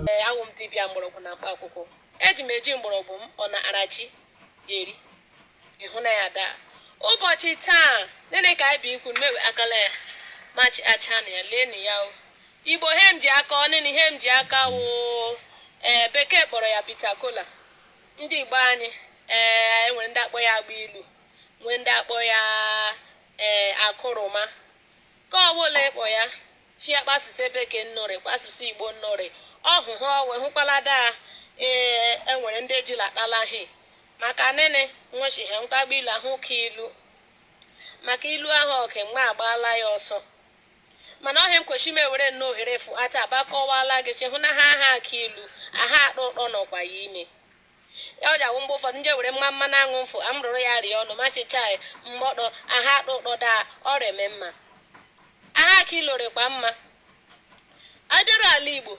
ee awụ m dibịa mgbọrọgwụ na mkpa akwụkwọ eji m eji mgbọrọgwụ m ọ na arachi eri ịhụ na ya daa ụbọchị taa nini ka anyị bụ ikwu mmewe akala ya machi acha na ya lee na ya o igbo he m ji aka ọ nini ihe m ji aka wụ ee bekee kpọrọ ya bitter kola ndị igbo anyị ee enwere ndị akpọ ya agba ilu nwee ndị akpọ ya ee akụrụma ka ọwụla ịkpọ ya chi akpa asụsụ bekee nnụrị kpa asụsụ igbo nnụrị ọhụ ha ọwe hụkwala daa ee enwere ndị ejila atala hi maka nini nwechi ha agba ilu ahụ ka ilu maka ilu ahụ ọke mgbe agbaala ya ọsọ mana ọ he nkwechi m ewere nnọọ ohere fụta abakọwala gị sị hụ na ha aha aka ilu aha atọ ụtọ nọkwa ya ime Ya o ji wụ mgbe ụfọdụ m je ewere mma mmanụ aṅụ mfụ amụrụrụ ya rịa ọnụ ma sị chaị mgbọdọ aha atọ ụtọ daa ọ rị eme mma aha aka ilu rịkwa mma a bịaru ala Igbo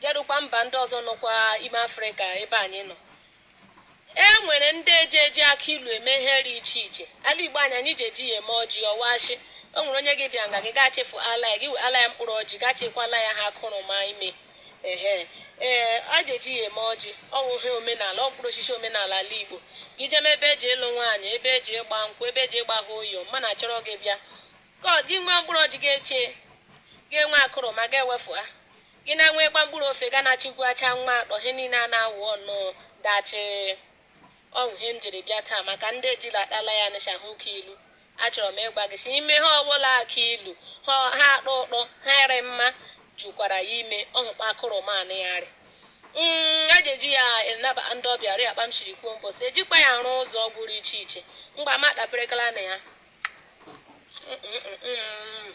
jerukwa mba ndị ọzọ nọkwa ime Afrịka ebe anyị nọ e nwere ndị eji eji akị ilu eme ihe dị iche iche ala Igbo anyị anyị ji eji ya eme ọjị ọ wụ shị o nwere onye gị bịa nga gị ga-achịfụtala ya gị wetala ya mkpụrụ ọjị ga-achịkwala ya ha akụrụma ime Ehe, ee, e ji eji ya eme ọjị. Ọ wụ ihe omenala, ọ mkpụrụ osisi omenala ala Igbo. Gị jeme ebe eji ịlụ nwaanyị, ebe eji ịgba nkwụ, ebe eji ịgba ha oyo, manụ chọrọ gị bịa. Ka gị nwee mkpụrụ ọjị gị echee, gị enwe akụrụma gị ewefụta. Gị na-enweekwa mkpụrụ ofe ga na-achịgwacha nwa atọ, ihe niile a na-awụ ọnụ dachịị. Ọ wụ ihe m jiri bịa taa maka ndị ejila atala ya nịcha hụ ka ilu. Achọrọ m ịgwa gị sị ime he ọbụla aka ilu he he atọ ụtọ he rị mma jukwara ya ime ọ hụ kpa akụrụma nị ya rị. Mm, e ji eji ya anabata ndị ọbịa rị kpa m siri kwuo mbọsị ejikwa ya arụ ụzọ ọgwụ dị iche iche mgba ma tapịrịkala na ya Mm, mm, mm, mm.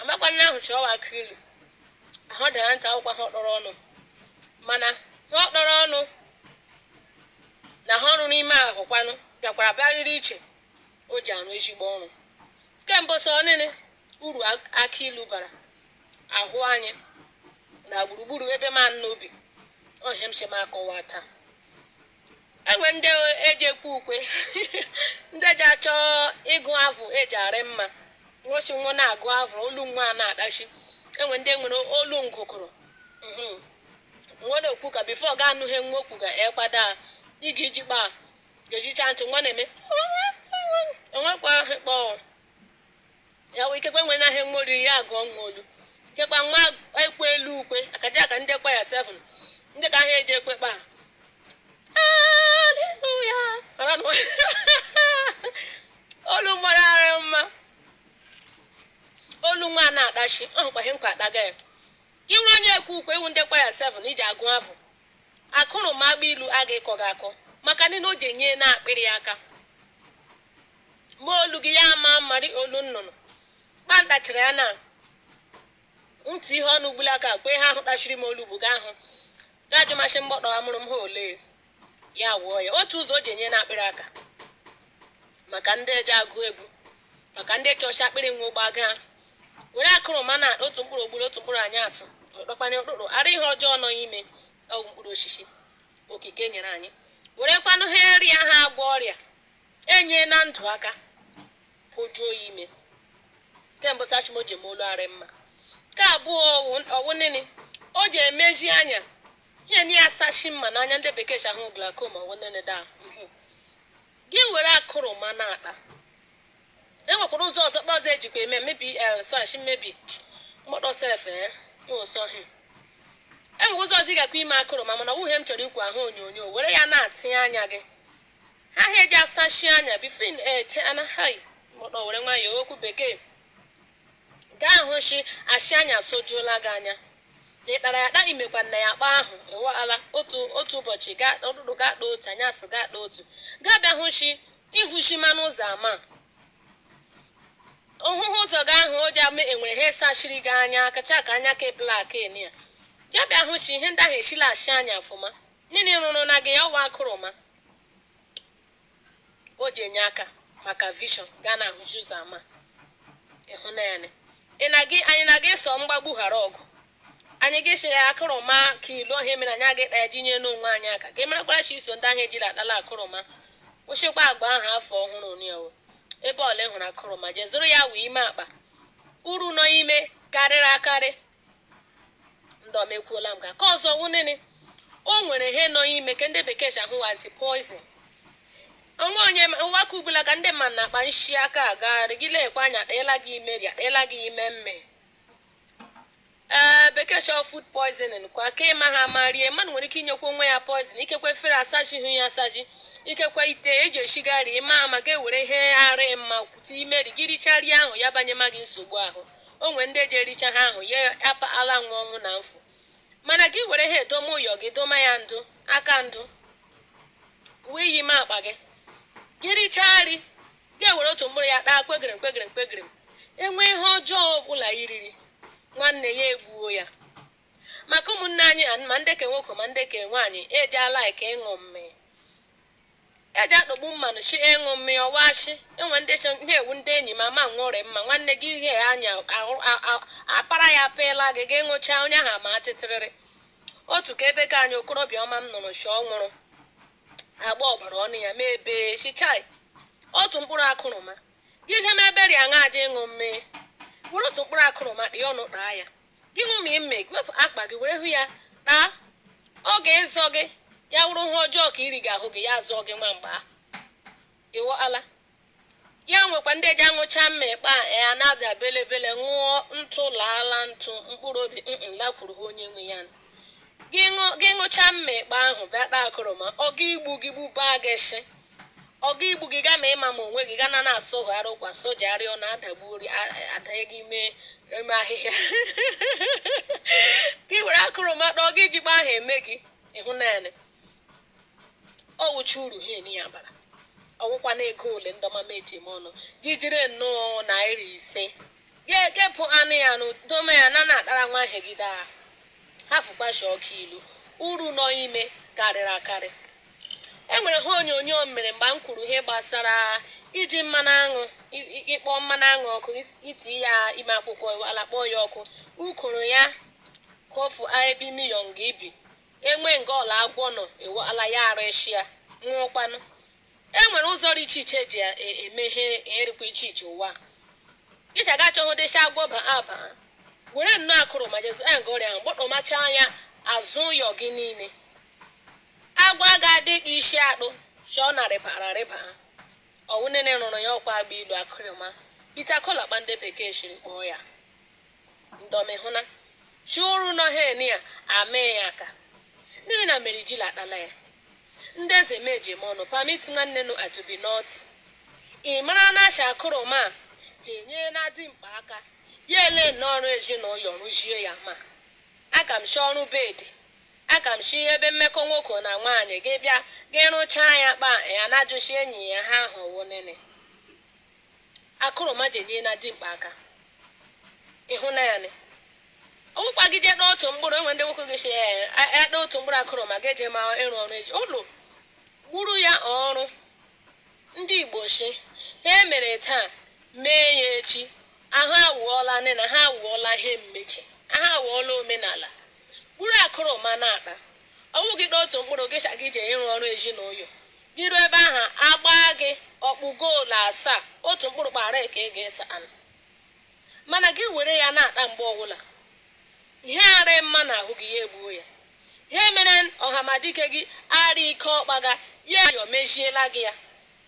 amakwa na ahụ chọọ akị ilu ahụ dara ntị akwụkwọ he ọ tọrọ ọnụ mana he ọ tọrọ ọnụ na he ọ rụ n'ime ahụ kwanụ bịakwara bịa rịrị iche o ji arụ ezigbo ọrụ ke mbọsọ ọ nini uru akị ilu bara ahụ anyị na gburugburu ebe manụ bi ọ he m sị m akọwa taa Enwe ndị e ji ekwe ukwe, ndị ji achọ ịgụ avụ e ji arị mma. Nwa sị nwa na-agụ avụ, olu nwa a na-adachi. Enwe ndị nwere olu ngụkụrụ. Mhm. Nwa na-ekwu ka before ọ ga-anụ ihe nwa kwu ga ekpada a. Ị ga-eji kpa a, gezicha ntị nwa na-eme enwekwa ahụ kpọọ. ya wee ikekwe nwe n'ahịa nwa oriri ya agụọ nwa olu kekwa nwa ekwe olu ukwe akaja aka ndị kwaya 7 ndị ka ahịa eji ekwe kpa aleluya mara na olu mara ara mma olu nwa a na-atachi ọ hụkwa ihe nkwa akpaga ya gị nwere onye ekwe ukwe ị wụ ndị kwaya 7 iji agụ afọ akụrụma agba ilu aga ịkọ gị akọ maka nịnị o ji enye n'akpịrị aka Ma olu gị ya ama mma dị olu nnụnụ. Kpanta chịrị ya na ntị ihe ọnụ ugbula aka kwe ha ahụ tachiri m olu bụ gaa hụ gaa jụ masị mgbọtọ amụrụ m ha ole ya wụọ ya otu ụzọ o ji enye n'akpịrị aka maka ndị eji agụ egwu maka ndị chọcha akpịrị nwa ụgba gaa were akụrụma na otu mkpụrụ ogburu otu mkpụrụ anyasụ ọkpakpanye ụkpụrụ ara ihe ọjọọ nọ ime ọgwụ mkpụrụ osisi okike nyere anyị werekwanụ ha eri ha agwọ ọrịa Enye na ndụ aka pojuo ya ime kemgbe sachim o ji eme olu arị mma. Nke abụọ ọ wụ nịnị o ji emezi anya ihe na ya sachi mma n'anya ndị bekee sị awụ glaucoma ọ wụ nịnị da mhụ. Gị were akụrụma na-ata. E nwekwara ụzọ ọzọ kpa ọzọ ejikwa eme mebi el sachi mmebi mkpọtọ sef e ụsọhị. E nwere ụzọ ọzọ ị gakwa ime akụrụma mana ọ wụ ihe m chọrọ ikwu ahụ onyonyo were ya na-atị anya gị. Ha ha eji asachi anya before ị na-ete ana hai mụdọ were nwayọọ okwu bekee gị ahụ shi ashi anya sojuola gị anya na ị tara ya taa i mekwa nna ya kpa ahụ ewe ala otu otu ụbọchị gaa ụtụtụ gị ata otu anyasị gị ata otu gaa bịa hụ shi ihu shi ma n'ụzọ ama ohụhụ ụzọ gị ahụ o ji ama e nwere ihe sachiri gị anya kacha ka anya ka blak eni ya ya bịa hụ shi ihe ndị ahụ eshila ashi anya ọfụma nịnị rụrụ na gị ya ọ wụ akụrụma o ji enye aka maka vision gị ana-ahụzi ụzọ ama ịhụ na anyị anaghị ịsọ mgbagbu ghara ọgụ anyị agaghị sị ya akụrụma ka ilu ọ wụ ya mere anyị aga ịta ya ji nye n'onwe anyị aka ka ị marakwara shi i so ndị ahụ ejiri atala akụrụma kwụsịkwa agba ahụ afọ ọhụrụ n'ewo ebe ọla ị hụrụ akụrụma jee zụrụ ya wee ime ata uru nọ ime karịrị akarị ndị ọma ekwuola m ka nke ọzọ wụ nịnị o nwere ihe nọ ime ka ndị bekee sị awụ anti poison o nwe onye ụwa ka ugbula ka ndị mmadụ na-akpa nshi aka agagharị gị lekwa anya atịla gị ime ri atịla gị ime mme ee bekee chọọ food poisoning kwa ka ịma ha ma rie mmadụ nwere ike inyekwa onwe ya poison ikekwe efere asajihụ ya asaji ikekwe ite eji eshiga ri ma ama ga-ewere ihe ara mma tie ime ri gị richarịa ahụ ya banye ma gị nsogbu ahụ O nwere ndị eji ericha ha ahụ ye apa ala nwa ọnwụ na mfu. Mana gị were ha edoma ụyọ gị doma ya ndụ, aka ndụ, wee yi ime akpa gị. Gị richaa nri, gị ewere otu mkpụrụ ya taa kwegịrịm kwegịrịm kwegịrịm. E nwee ihe ọjọọ ọ bụla i riri, nwanne ya egbuo ya. Maka ụmụnne anyị ma ndị ke nwoko ma ndị ke nwaanyị eji alike ịṅụ mmịị. Eji atọgbu mmanụ shị ịṅụ mmị ọwa shị enwe ndị ihe ewu ndị enyi ma ma nwụrị mma nwanne gị ihe anya ahụ a- a- apara ya apịla gị gị ṅụchaa onye ahụ ama atịtịrịrị otu ka ebe ka anyị okorobịa ọma m nụrụ shị ọ nwụrụ agba ọbara ọnụ ya ma ebe chichai otu mkpụrụ akụrụma gị je ma eberi aṅa aja ịṅụ mmị were otu mkpụrụ akụrụma dị ọnụ taa ya Gị ṅụma mmị gị wepụ akpa gị were hụ ya taa. Ọ ga-ezọ gị, ya wụrụ ihe ọjọọ ka i ri ga-ahụ gị, ya zọọ gị nwa mgbe ahụ. Ị ghọọla? Ya nwekwa ndị eji aṅụcha mmekpa a na-abịa belebele ṅụọ ntụ laala ntụ mkpụrụ obi mm lakwuru ha onye nwe ya nụ. Gị ṅụ- gị ṅụcha mmekpa ahụ bịa taa akụrụma ọ ga igbu gị gbubaa gị shị Ọ ga igbu gị, gị ama ịma ma onwe gị, ga na na-asọgharị ụkwa, sọjegharị ọnụ, adagbu ori, adanye gị ime ime ahịhịa. Gị were akụrụma taa, ọ ga ijikpa ahụ eme gị ị hụna nị. Ọ wụcha uru ha eni ya bara. Ọ wụkwa na ego ole ndị ọma m eji eme ọnụ. Gị jiri nnọọ naira ise Ya ekepụ anụ ya nụ dome ya na na-atara nwa ihe gị ata hafụkwa shị ọ kụ ilu uru nọ ime karịrị akarị. E nwere ha onyonyo m mere mgbe m kwuru ihe gbasara iji mmanụ aṅụ i- i- ịkpọ mmanụ aṅụ ọkụ is- iti ya ime akwụkwọ ala kpọọ ya ọkụ ukoro ya kofu aebi miyong ibi enwe nga ọla agwọ nọ ewe ala ya arịshịa nwụọkwanụ E nwere ụzọ dị iche iche eji e, eme ihe rịkwa iche iche ụwa. Ị shị gị achọhụ dị shị agwọ ba aba, were nnọọ akụrụma jezu anga ọrịa ahụ gbọtọmachaa ya azụ ụyọ gị niile. Agwọ aga adị ịkpụ isi akpụ shị ọ na-arịbara arịba. Ọ wụ nịnị rụrụ ya ọkwa agba ilu akụrụma, bitter kola kpa ndị bekee siri kpọọ ya. Ndị ọma ị hụna shị uru nọ ha eni a amee ya aka. Nịnị na mere jila atala ya. Ndị eze m eji eme ọnụ permit nwanne nu a to be naughty. Ị mara na shị akụrụma ji enye na dimkpa aka, ya ele nnọọ ọrụ ezinaụyọ rụzie ya ma aka m shị ọrụ bed, aka m shị ebe mmekọ nwoke na nwaanyị gị bịa gị rụchaa ya kpa ya na-ajụ shị enyi ya ha ahụ wụ nịnị. Akụrụma ji enye na dimkpa aka. Ị hụna ya nị. Ọ bụkwa gị je taa otu mkpụrụ, enwe ndị nwoke gị sị, ee, a- ya taa otu mkpụrụ akụrụma ga-eje ma ịrụ ọrụ ezi ụlọ gburu ya ọrụ. Ndị Igbo sị, ihe e mere taa, mee ya echi. Ahụ awụọla anị na ha awụọla ihe mmechi. Ahụ awụọla omenala. Buru akụrụma na-ata. Ọ wụ gị taa otu mkpụrụ, gị sị gị jee ịrụ ọrụ ezinaụlọ. Gị ruo ebe ahụ, a gbaa gị ọkpụ goolu asaa, otu mkpụrụ kpaarịị ka ị ga-ese anụ. Mana gị were ya na-ata mgbe ọbụla, ihe arịị mma n'ahụ gị, ya egbuo ya. Ihe mere Ọhamadike gị arịị ike ọkpaga, ya ayọ meziela gị ya.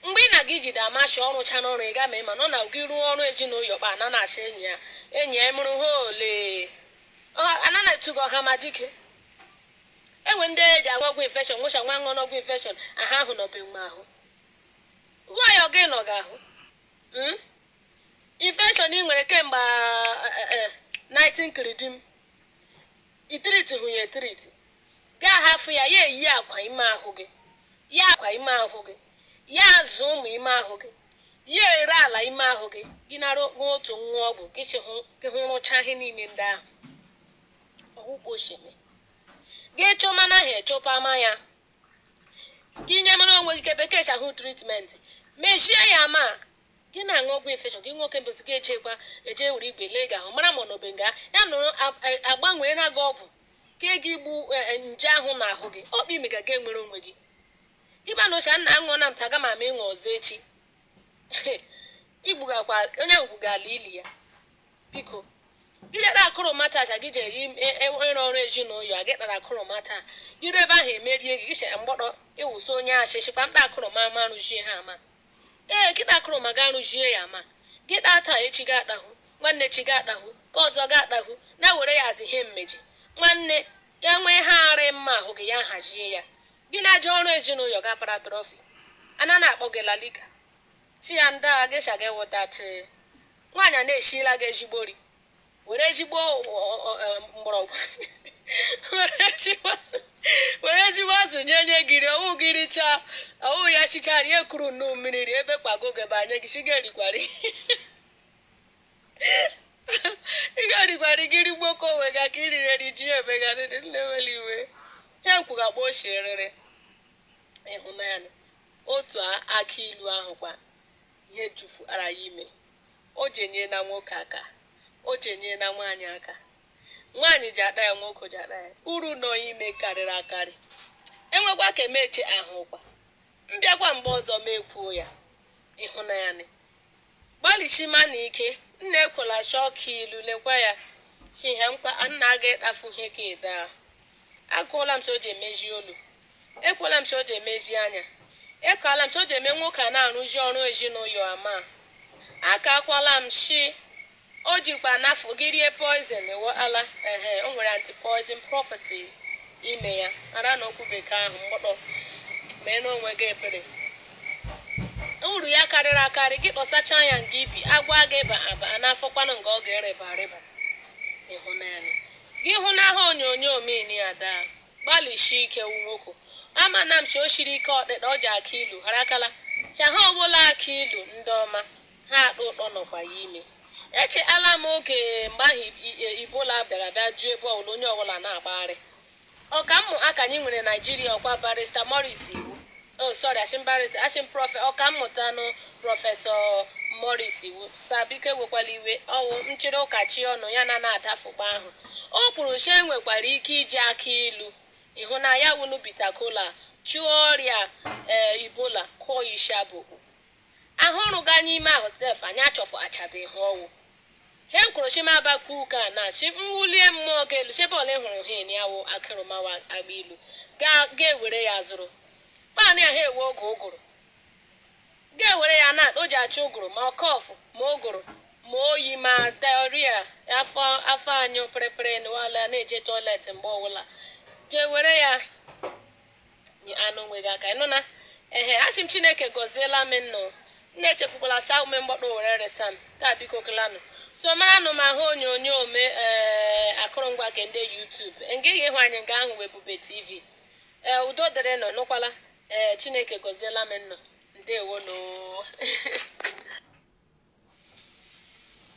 Mgbe ị na-aga ijide Amasha ọ rụchara ọrụ ị ga ma ị ma nọ na gị rụọ ọrụ ezinaụyọ kpa ana na-asị enyi ya enyi ya ị mụrụ ha olee? Ọ ana na-etu gị ọhamadike. E nwere ndị e ji agwọ ọgwụ infection ṅụchaa nwa ṅụọ n'ọgwụ infection ahụ ahụ nọbe nga ahụ. Why ọ gị nọ gị ahụ? Mm? Infection ị nwere kemgbe a, a, a, a, 19 kiridim. I tritụghị ya etriti, gị ahafụ ya ya eyie akwa ime ahụ gị, ya akwa ime ahụ gị, ya azụ ụmụ ime ahụ gị, ya ere ala ime ahụ gị, gị nara okpụ otu nwa ọgwụ gị sị hụ gị hụ rụchaa ihe niile ndị ahụ. Ọ wụ kpa o si eme. Gị chọma na ha echọpama ya. Gị nyemara onwe gị ke bekee si ahụ treatment, mezie ya ma Gị na-aṅụ ọgwụ infection, gị ṅụọ chemicals, gị ejeekwa eje were igwe lee gị ahụ mara ma ọ nọbe nga ya nọrọ a- a- agbanweela gị ọgwụ ke e ji egbu eh, eh, nje ahụ n'ahụ gị ọ bụ ime ga gị enwere onwe gị gị ma na oche a nna aṅụọ na m taa aga m ama ịṅụ ọzọ echi igbugakwa onye ahụ gwuga ala ili ya biko gị jere akụrụma taa aja gị jere im- e- e- ịrụ ọrụ ezinụlọ ya gị tara akụrụma taa gị ruo ebe ahụ emerie gị gị chere mgbọdọ ịwụsị onye achịchị kpamkpa akụrụma ama rụzie ha ama Ee, gị taa akụrụma gaa rụjie ya ma. Gị taa taa, echi gị atahụ, nwanne echi gị atahụ, nke ọzọ gị atahụ, na-ewere ya as ihe mmeji. Nwanne, ya nwee ihe arị mma ahụ gị, ya ahajie ya. Gị na-aje ọrụ ezinaụyọ gị apara trophy, a na na-akpọ gị La Liga. Sị ya ndaa, gị sha gị wụtachị. Nwaanyị a na-esiela gị ezigbo nri. were ezigbo mgbọrọgwụ were ezigbo azụ nye nye gị rie ọ wụ gị richaa ọ wụ ya sichaa rie kuru nnu mmiri rie ebe kpago oge bụ anya gị chi ga-erikwari ị ga-erikwari gị rigbo ka onwe ga ka iriri eri ji ya emegharịrị nlewere iwe ya nkwụga gba ochie rere ị hụna ya otu akị ilu ahụ kwa ihe jufuara ya ime O ji enyela nwoke aka. O ji enyela nwaanyị aka. Nwaanyị ji ata ya, nwoke ji ata ya. Uru nọ ime karịrị akarị. E nwekwa ka eme eche a hụkwa. M bịakwa mgbe ọzọ m ekwuo ya. Ị hụna ya nị. Gbalịsimanụ ike. Nna ekwela chọọ akị ilu. Lekwa ya. Chi ha mkpa, a nna aga ịtafu ihe ka ị taa. Akọọla m sị o ji emezi olu. Ekwuola m sị o ji emezi anya. Ekwuola m sị o ji eme nwoke a na-arụzi ọrụ ezinaụyọ ama. Akaakwala m sị o jikwa anafụ gị rie poison, ị ghọtala? Ehe, o nwere anti-poison properties ime ya. Ara na okwu bekee ahụ m gbọtọ. Meere onwe gị ebere. Uru ya karịrị akarị, gị kpọsachaa ya nga i bi, agwọ agaghị ịba aba, a na-afọkwanụ nga ọ ga-erịba arịba. Ị hụnanị. Gị hụ n'aha onyonyo Mini Ada. Gbalịsie ike wu nwoke. Amana m sị o siri ike ọtịta o ji akị ilu harakala. Chaha ọbụla akị ilu ndị ọma. Ha atọ ụtọ nọkwa ya ime. Echeala m oge mgbe ahụ Ebola bịara bịa ju ebe ọbụla onye ọbụla na-agbagharị. Ọkammụta anyị nwere Naijiria ọ kwa Barrister Maurice Iwu. Oh, sorry, asị m barrister, asị m prọfe, ọkammụta nụ prọfesọ Maurice Iwu. Sir biko ewekwala iwe, ọ wụ nchịrị ụka si ọnụ ya na na-adafụta ahụ. O kwuru sị e nwekwara ike iji aka ilu ịhụ na ya wụnụ bitter kola chụọ ọrịa ee Ebola kụọ ishabụ. He ọ rụga n'ime ahụ sef anyị achọfụtachabeghi. Ọ wụ he m kwuru sị m bịa kwuo ụka ana sị m wulie mmụọ gị elu sị ebe ọwụla ị hụrụ he nia wụ akị ilu ma ọ wụ agba ilu ga ga ewere ya zụrụ tanịa he ewe oge ụgụrụ ga ewere ya na o ji achụ ụgụrụ ma cough ma ụgụrụ ma oyi ma diarrhea afọ afọ anyụ pịrịpịrị na ọla na-eje toilet mgbe ọwụla ga ewere ya nye anụ onwe gị aka ị nụna ehe asị m chineke gọziela m nnụ nnụ echefukwala saa ume m gbọtọ were resa m ka biko kelanụ so maranụ m ahụ onyonyo me ee akọrọngwa nke ndị YouTube nga ihe ịhụ anyị nga ahụ wụ Ebube TV ee udo dịrị nnụ nụkwala ee chineke gọziela m nnụ ndewo noo